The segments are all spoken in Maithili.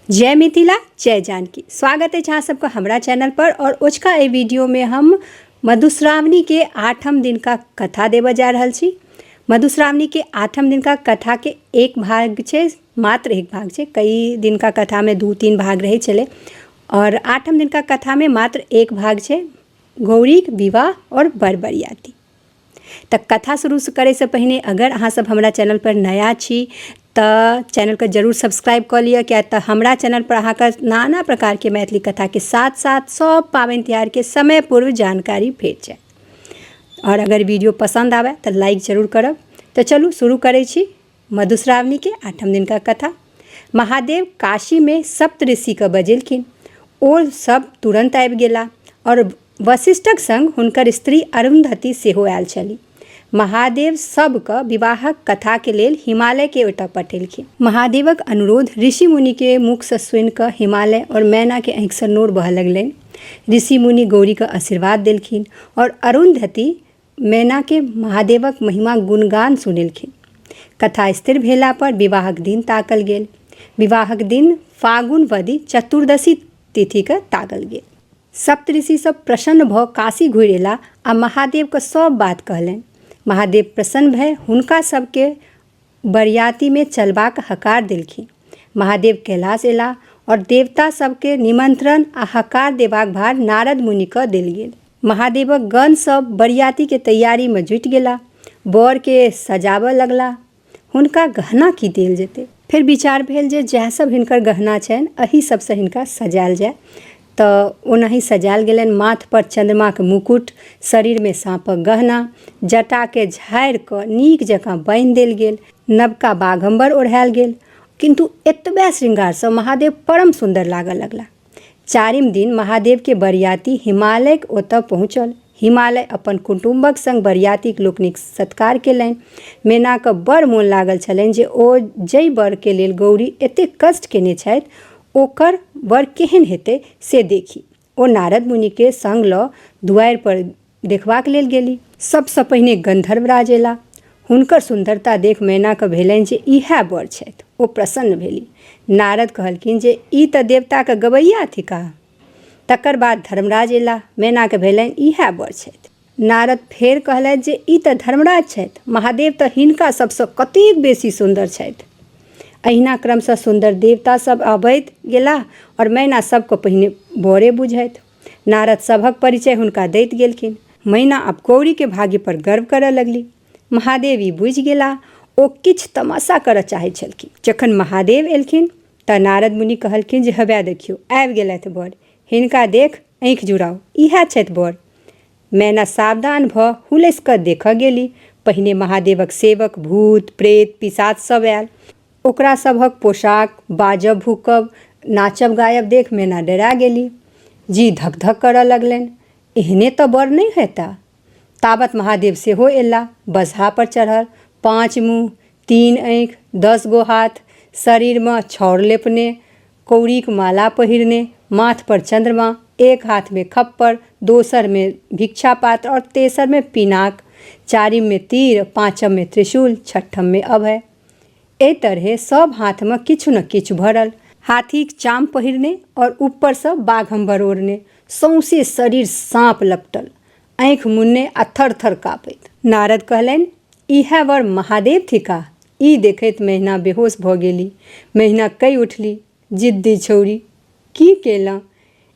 जय मिथिला जय जानकी स्वागत अछि अहाँ सबके हमरा चैनल पर और ओझका एहि वीडियो में हम मधुश्रावणी के आठम दिन का कथा देव जा रहल छी मधुश्रावणी के आठम दिन का कथा के एक भाग छै मात्र एक भाग छै कई दिन का कथा में दू तीन भाग रहे चले और आठम दिन का कथा में मात्र एक भाग छै गौरी विवाह और बरबरियाती तऽ कथा शुरू करैसँ पहिने अगर अहाँसभ हमरा चैनलपर नया छी तऽ चैनलके जरूर सब्सक्राइब कऽ लिअ किएक तऽ हमरा चैनलपर अहाँके नाना प्रकारके मैथिली कथाके साथ साथ सभ पाबनि तिहारके समय पूर्व जानकारी भेट जायत आओर अगर वीडियो पसन्द आबय तऽ लाइक जरूर करब तऽ चलू शुरू करै छी मधुश्रावणी के आठम दिन का कथा महादेव काशी में सप्त ऋषि के बजेलखिन ओ सब तुरंत आबि गेला और वशिष्ठक संग हुनकर स्त्री अरुंधति सेहो आयल छली महादेव सबके विवाहक कथा के लेल हिमालय के ओतय पठेलखिन महादेवक अनुरोध ऋषि मुनि के मुख से सुनि कऽ हिमालय और मैना के आँखि से नोर बहऽ लगलनि ऋषि मुनि गौरी के आशीर्वाद देलखिन और अरुंधति मैनाके महादेवक महिमा गुणगान सुनेलखिन कथा स्थिर भेला पर विवाहक दिन ताकल गेल विवाहक दिन फागुन वधि चतुर्दशी तिथिके ताकल गेल सप्तऋषि सब प्रसन्न भऽ काशी घुरि एला आ महादेवके सब बात कहलनि महादेव प्रसन्न भए हुनका सबके बरियातीमे चलबाक हकार देलखिन। महादेव कैलाश एलाह और देवता सभकेँ निमंत्रण आ हकार देबाक भार नारद मुनिकँ देल गेल। महादेवक गण सभ बरियातीक तैयारीमे जुटि गेलाह। बरकेँ सजाबए लगलाह। हुनका गहना की देल जेतै? फेर विचार भेल जे जएह सभ हिनकर गहना छनि एहि सभसँ हिनका सजाएल जाए। तऽ ओनाही सजायल गेलनि माथ पर चंद्रमाक मुकुट शरीर में साँपक गहना जटा के झाड़ि कऽ नीक जकाँ बान्हि देल गेल नवका बाघम्बर ओढ़ायल गेल किन्तु एतबे श्रृंगारसँ महादेव परम सुन्दर लागऽ लगला चारिम दिन महादेव के बरियाती हिमालयक ओतऽ पहुँचल हिमालय अपन कुटुम्बक संग बरियातीक लोकनिक सत्कार केलनि। मेनाकऽ बड़ मोन लागल छलनि जे ओ जइ वर के लेल गौरी एतेक कष्ट केने छथि ओकर वर केहेन हेतै से देखी। ओ नारद मुनि के संग लऽ दुआरि पर देखबाक लेल गेली। सब सँ पहिने गन्धर्वराज एला। हुनकर सुन्दरता देख मेना कऽ भेलनि जे इएह वर छथि। ओ प्रसन्न भेली। नारद कहलखिन जे ई तऽ देवताक गवैया थिकाह। तकर बाद धर्मराज अयला मैनाके भेलनि इएह बर छथि नारद फेर कहलथि जे ई तऽ धर्मराज छथि महादेव तऽ हिनका सभसँ कतेक बेसी सुन्दर छथि अहिना क्रमसँ सुन्दर देवता सभ अबैत गेला आओर मैना सभके पहिने बड़े बुझथि नारद सभक परिचय हुनका दैत गेलखिन मैना आब गौरीके भाग्यपर गर्व करय लगली महादेव ई बुझि गेला ओ किछु तमाशा करय चाहै छलखिन जखन महादेव एलखिन तऽ नारद मुनि कहलखिन जे हवए देखियौ आबि गेलथि बर हिनका देख आँखि जुड़ाउ इएह छथि बर मैना सावधान भऽ हुलसि कऽ देखऽ गेली पहिने महादेवक सेवक भूत प्रेत पिशाच सब आयल ओकरा सभक पोशाक बाजब भूकब नाचब गायब देख मैना डरा गेली जी धक धक करऽ लगलनि एहने तऽ बर नहि हेता ताबत महादेव सेहो एला बसहा पर चढ़ल पाँच मुँह तीन आँखि दस गो हाथ शरीरमे छौर लेपने कौड़ीक माला पहिरने माथ पर चंद्रमा एक हाथ में खप्पर दोसर में भिक्षा पात्र और तेसर में पिनाक चारिम में तीर पांचम में त्रिशूल छठम में अभय एहि तरहे सब हाथ में किछु न किछु भरल हाथीक चाम पहिरने और ऊपर से बाघम्बर ओढ़ने सौंसे शरीर साँप लपटल आँखि मुन्ने आ थर थर काँपैत नारद कहलनि इएह वर महादेव थिका ई देखैत मेहना बेहोश भऽ गेली मेहना कहि उठली जिद्दी छौड़ी की केलहुँ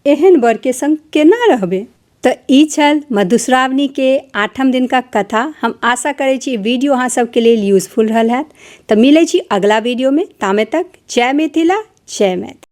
एहन वरके संग केना रहबै तऽ ई छल मधुश्रावणीके आठम दिनका कथा हम आशा करै छी वीडियो अहाँ सबके लेल यूजफुल रहल हैत तऽ मिलै छी अगिला वीडियोमे तामे तक जय मिथिला जय मैथिल